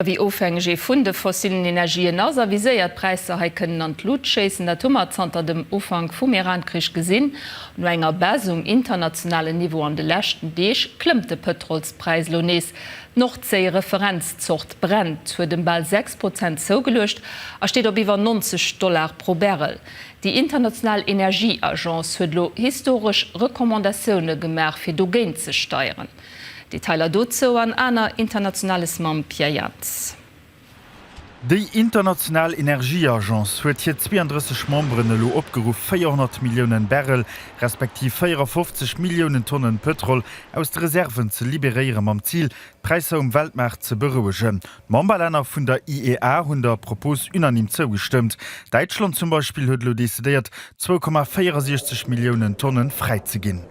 wéi ofhängeg ee vun de fossillen Energien ass a wéi séier d'Präisser hei kënnen an d'Lut schéissen, dat hu mer zanter dem Ufank vum Iran-Krich gesinn. No enger Baisse um internationalen Niveau an de leschten Deeg klëmmt de Pëtrolspräis elo nees. D'Nordséi-Referenzzort Brent huet ëm bal 6 Prozent zougeluecht a steet op iwwer 90 Dollar pro Barrel. Déi international Energieagence huet elo historesch Recommandatioune gemaach, fir dogéint ze steieren. Detailer dozou an aner Internationales mam Pierre Jans. Déi international Energieagence huet hir 32 Memberen elo opgeruff, 400 Milliounen Barrel, respektiv 54 Milliounen Tonnen Pëtrol aus de Reserven ze liberéiere mam Zil, d'Präisser um Weltmaart ze berouegen. D'Memberlänner vun der IEA hunn der Propos unanime zougestëmmt. Däitschland zum Beispill huet elo decidéiert, 2,64 Milliounen Tonne fräizeginn.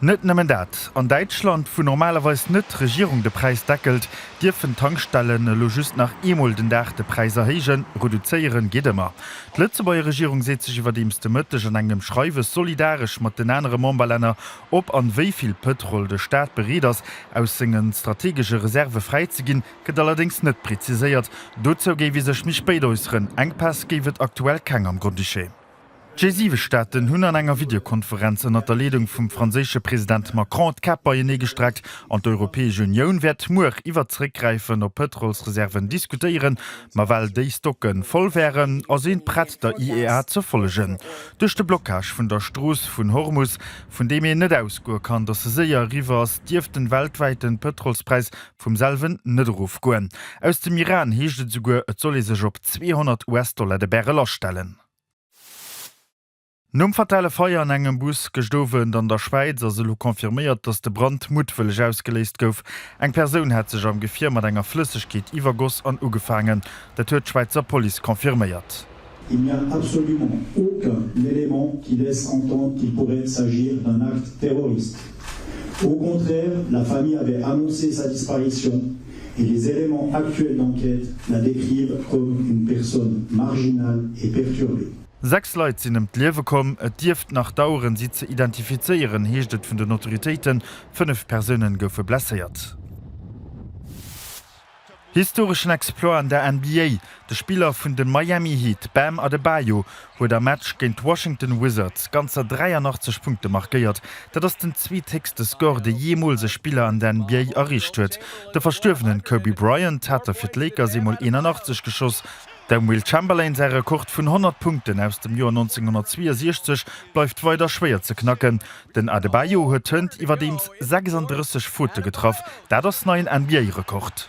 Net nëmmen dat, an Däitschland, wou normalerweis net d'Regierung de Präis deckelt, dierfen d'Tankstellen elo just nach eemol den Dag de Präis erhéijen. Reduzéieren geet ëmmer. D'Lëtzebuerger Regierung seet sech iwwerdeems de Mëtteg an engem Schreiwes solidaresch mat den anere Memberlänner, ob an wéi vill Pëtrol de Staat bereet ass aus senge strategesche Reserve fräi ze ginn, gëtt allerdéngs net preziséiert. Dozou géif ee sech méi spéit äusseren. Enkpäss géif et aktuell keng am Grand-Duché. D'G7-Staaten hunn an enger Videokonferenz ënnert der Leedung vum franséische President Macron d'Käpp beienee gestreckt an d'Europäesch Unioun wäert muer iwwert d'Zeréckgräifen op Pëtrolsreserven diskutéieren. Ma well déi Stocke voll wären, ass een prett der IEA ze follegen. Duerch de Blockage vun der Strooss vun Hormus, vun deem een net ausgoe kann, datt se séier eriwwer ass, dierft de weltwäite Pëtrolspräis Vum selwen net erof goen. Aus dem Iran heescht et esouguer, et soll ee sech op 200 US-Dollar de Barrel astellen. Nom fatale Feier an engem Bus gëscht Owend an der Schwäiz ass elo confirméiert, datt de Brand muttwëlleg ausgeléist gouf. Eng Persoun hätt sech am Gefier mat enger Flëssegkeet iwwergoss an ugefaangen. Dat huet d'Schwäizer Police confirméiert. Il n'y a absolument aucun élément qui laisse entendre qu'il pourrait s'agir d'un acte terroriste. Au contraire, la famille avait annoncé sa disparition et les éléments actuels d'enquête la décrivent comme une personne marginale et perturbée. Sechs Leit sinn ëm d'Liewe komm. Et dierft nach daueren, si ze identifizéieren, heescht et vun den Autoritéiten. Fënnef Persounen goufe blesséiert. Historeschen Exploit an der NBA, De Spiller vun de Miami Heat, Bam Adebayo, huet am Match géint d'Washington Wizards ganzer 83 Punkte markéiert. Dat ass den zweethéchste Score, dee jeemools e Spiller an der NBA erreecht huet. De verstuerwenen Kobe Bryant hat der fir d'Lakers eemol 81 geschoss. Dem Wilt Chamberlain säi Rekord vun 100 Punkten aus dem Joer 1962 bleift weider schwéier ze knacken. Den Adebayo huet hënt iwwerdeems 36 Faute getraff, dat ass neien NBA-Rekord.